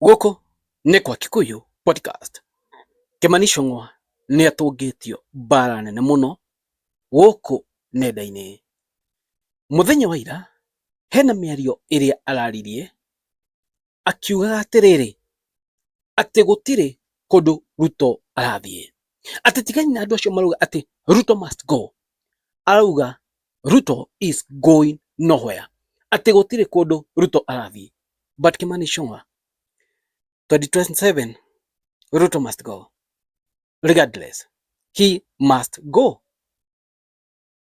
Gũkũ nĩ kwa Kikuyu Podcast. Kĩmani Icũng'wa nĩ atũngĩtio mbara nene mũno gũkũ nenda-inĩ. Mũthenya wa ira hena mĩario ĩrĩa araririe akiugaga atĩrĩrĩ atĩ gũtirĩ kũndũ Ruto arathiĩ, atĩ tigani na andũ acio marauga atĩ Ruto must go, arauga Ruto is going nowhere. Atĩ gũtirĩ kũndũ Ruto arathiĩ. But Kimani Ichung'wa, 2027, Ruto must go. Regardless, he must go.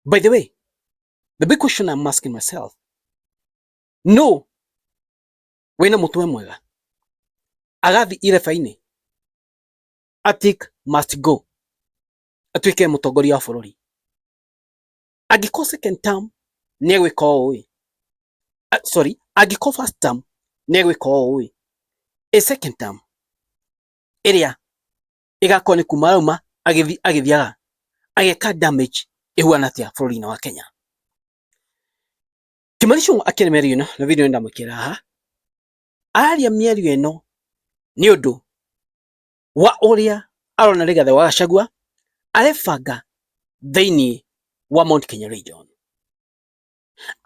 By the way, the big question I'm asking myself, no wĩna mũtwe mwega agathi ireba-inĩ Atik must go. atuĩke mũtongoria wa bũrũri angĩkorwo second term nĩ egwĩka ũũ ĩ ah, sorry angĩkorwo first term nĩ egwĩka ũũ ĩ ĩ second term ĩrĩa ĩgakorwo nĩ kuma rauma agĩthiaga ageka damage ĩhuana atĩa bũrũri-inĩ wa Kenya Kimani Ichung'wa akĩrĩ mĩario ĩno na video ndamwĩkĩra haha aria mĩario ĩno nĩ ũndũ wa ũrĩa arona Rigathĩ wa Gachagua arebanga thĩinĩ wa Mount Kenya Region.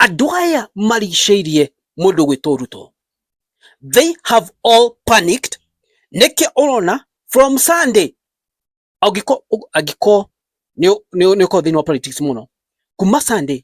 Andũ aya marigicĩirie mũndũ gwĩtwo Ruto. They have all panicked. Nĩkĩ ũrona from Sunday angĩko angĩko nĩ ũkorwo thĩinĩ wa politics mũno kuma Sunday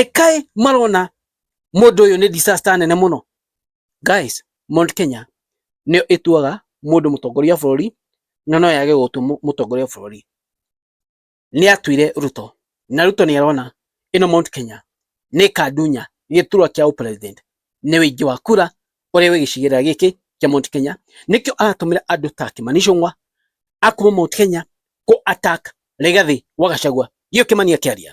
ekae marona mundu uyu ni disaster nene muno guys Mount Kenya nä ĩtuaga mundu mutongoria wa bũrũri na no yage gũtua mutongoria wa bũrũri nä atuire Ruto na Ruto nä arona ä no Mount Kenya nä kandunya gĩturwa kĩa president nä wĩingĩ wa kura ũrĩa wĩ gĩcigĩrĩra gĩkĩ kĩa Mount Kenya nĩkĩo aratũmĩra andũ ta Kimani Ichung'wa a kuma Mount Kenya kũ attack Rigathi wa Gachagua gĩo Kimani akĩaria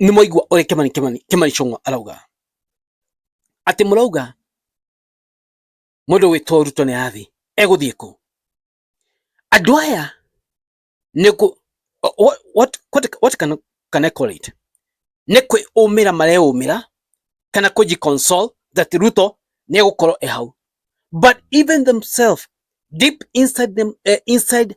nĩ mwaigua ũrĩa Kimani Kimani Kimani Chung'wa arauga atĩ mũrauga mũndũ wĩtwo Ruto nĩ arathiĩ egũthiĩ kũ andũ aya nĩ kũ what, what, what, what can, can I call it nĩ kwĩũmĩra mareũmĩra kana kũji console that Ruto nĩ egũkorwo e hau but even themselves deep inside them uh, inside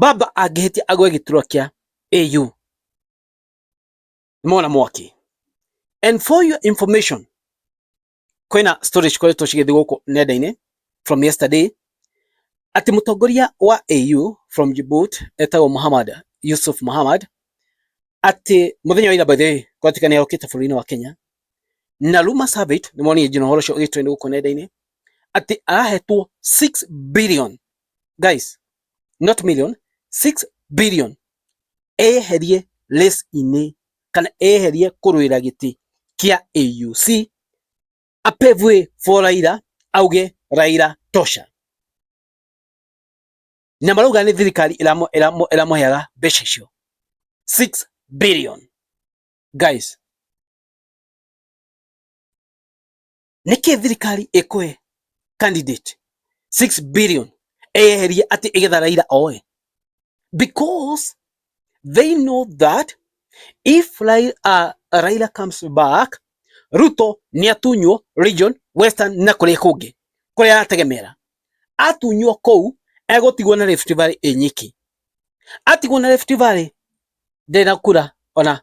Baba angĩhĩtia agwe gĩturwa kĩa AU. Mona mwaki. And for your information, kwĩna story cikoretwo cigĩthiĩ gũkũ nenda-inĩ from yesterday atĩ mũtongoria wa AU from Djibouti etagwo Muhammad Yusuf Muhammad atĩ mũthenya wa ira by the way kwatuĩka nĩ arokĩte bũrũri-inĩ wa Kenya na Luma Service nĩ monire njino horo cio ũgĩtrend gũkũ nenda-inĩ atĩ arahetwo 6 billion guys not million 6 billion eherie list inĩ kana eherie kũrũĩra gĩtĩ kia AUC apevwe for Raila auge Raila tosha na marauga nĩ thirikari ĩramũheaga mbeca icio 6 billion guys nĩkĩ thirikari ĩkũhe candidate 6 billion eyeherie atĩ ĩgetha Raila oe because they know that if Raila, uh, Raila comes back Ruto nĩ atunywo region western na kũrĩa kũngĩ kũrĩa arategemera atunywo kũu egũtigwo na Rift Valley ĩnyiki atigwo na Rift Valley ndena kura ona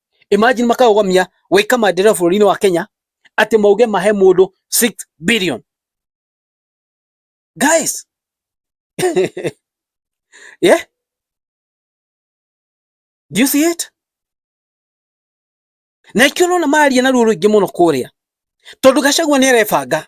imagine makaũgamia waika mandĩra bũrũri-inĩ wa Kenya atĩ mauge mahe mũndũ 6 billion guys yeah do you see it na ikio nona maria na ruo rũingĩ mũno kũrĩa tondu gacagua nĩ arebanga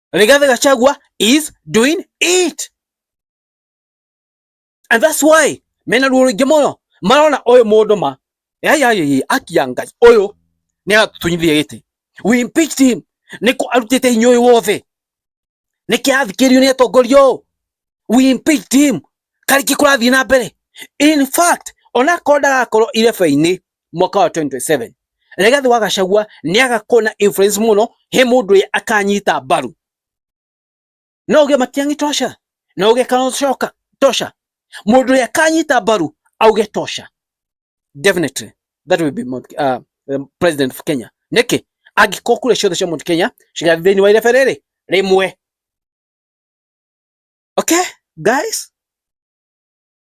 Rigathi Gachagua is doing it and that's why mena ruo rũingĩ mũno marona ũyũ mũndũ ma yayayi akia ngai ũyũ nĩ atũnyithia gĩtĩ we impeached him nĩ kũ arutĩte hinya ũyũ wothe nĩ kĩ athikĩrio nĩ atongoria ũũ we impeached him karĩki kũrathiĩ na mbere in fact ona korwo ndagakorwo irebe-inĩ mwaka wa 27 Rigathi wa Gachagua ni agakona influence muno he mundu ye akanyita mbaru no uge matiangi tosha no uge kana shoka tosha mundu ye akanyita mbaru auge tosha definitely that will be uh, um, president of Kenya niki angĩkorwo kura ciothe cia mũndũ Kenya cigathiĩ thĩinĩ wa irebe rĩrĩ rĩmwe. Okay guys,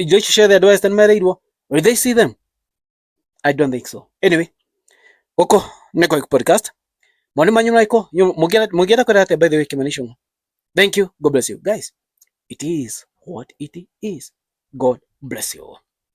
indo ici ciothe andũ Western mereirwo will they see them I don't think so anyway gũkũ nĩ Koik podcast moni manyu marĩkũ mũngĩenda kwenda atĩa by the way kĩmanisho thank you God bless you guys it is what it is God bless you all